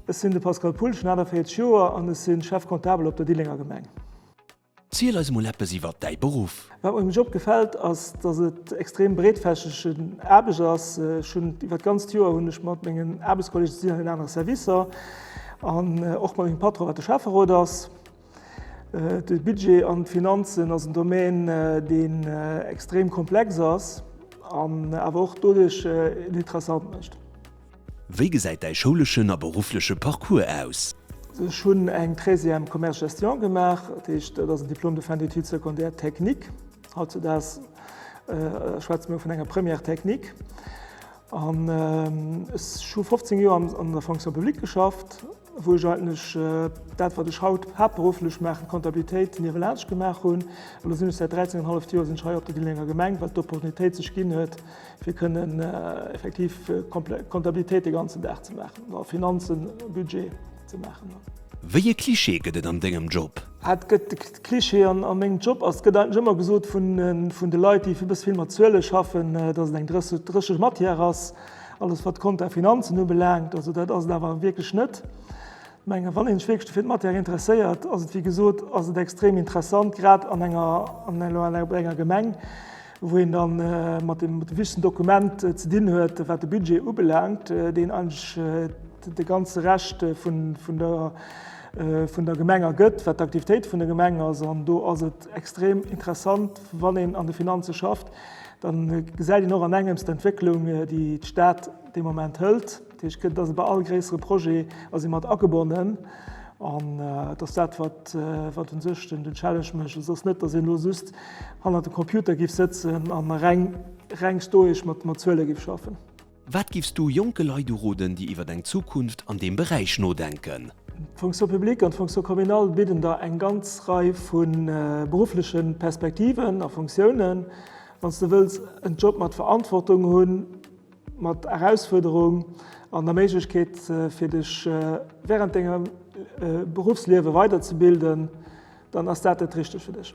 Ech sinn de Pascal Pulsch, hunn 48 Joer an ech si Chef comptable op der Dillenger Gemeng. Ziel eis mol eppes iwwert däi Beruff. Wat mer um Job gefält ass, dass et extrem breetfächegen Aarbecht ass. Ech hunn iwwert d'ganzt Joer hunn ech mat mengen Aarbechtskollegen, si sinn an den anere Servicer, an och mat mengem Patron wat de Schäfferot ass, De Budget an d'Finanzen ass en Domän, deen extrem komplex ass an awer och doduerch en interessant mécht. Wéi gesäit däi schouleschen a beruffleche Parcours aus? Ech hunn eng Treizième Commerce-Gestion gemaach, dat heescht, dat ass en Diplôme de fin d'études secondaires techniques. Hautzedaags schwätze mir vun enger Première technique. An ech hu 15 Joer an der Fonction publique geschafft. wou ech eigentlech dat, wat ech haut haaptberufflech maachen, d'Kontabilitéit niewelaanscht gemaach hunn. An da sinn ech säit 13 en halleft Joer sinn ech hei op der Dillenger Gemeng, well d'Opportunitéit sech ginn huet, fir kënnen effektiv Kontabilitéit de ganzen Dag ze maachen oder Finanzen, Budget ze maachen. Wéi ee Cliché gëtt et an dengem Job? Wat gëtt de Cliché an mengem Job? Also et gëtt eigentlech ëmmer gesot vun de Leit, déi e bësse vill mat Zuele schaffen, dass et eng drécheg Matière ass. Alles wat Konten a Finanzen ubelaangt, also dat ass et awer wierklech net. Ech mengen, wann ee sech wierklech dofir d'Matière interesséiert, ass et, wéi gesot, ass et extrem interessant, grad an enger, elo alleguer bei enger Gemeng, wou een da mat deem wichtegsten Dokument ze dinn huet, wat de Budget ubelaangt, deen eigentlech de ganze Rescht vun der Gemeng ergëtt, wat d'Aktivitéit vun der Gemeng ass. An do ass et extrem interessant, wann een an de Finanze schafft, Da gesäit een och an engems d'Entwécklung, déi d'Stad dee Moment hëlt. Dat heescht, kënnt dass e bei all gréissere Projet ass ee mat agebonnen. An et ass dat, wat, wat u sech den, den Challenge mécht. Et ass net, dass een elo just hannert dem Computer géif sëtzen an reng, reng stoesch mat, mat Zuele géif schaffen. Wat giffs du jonke Leit uroden, déi iwwer eng Zukunft an deem Beräich nodenken? D'Fonction publique an d'Fonction communale bidden der eng ganz Rei vu beruffleche Perspektiven a Fonctiounen. Wann s de wëlls en Job mat Verantwortung hunn, mat Erausfuerderung an der Méiglechkeet fir dech wärend dengem Beruffsliewe weiderzebilden, dann ass dat dat Richtegt fir dech.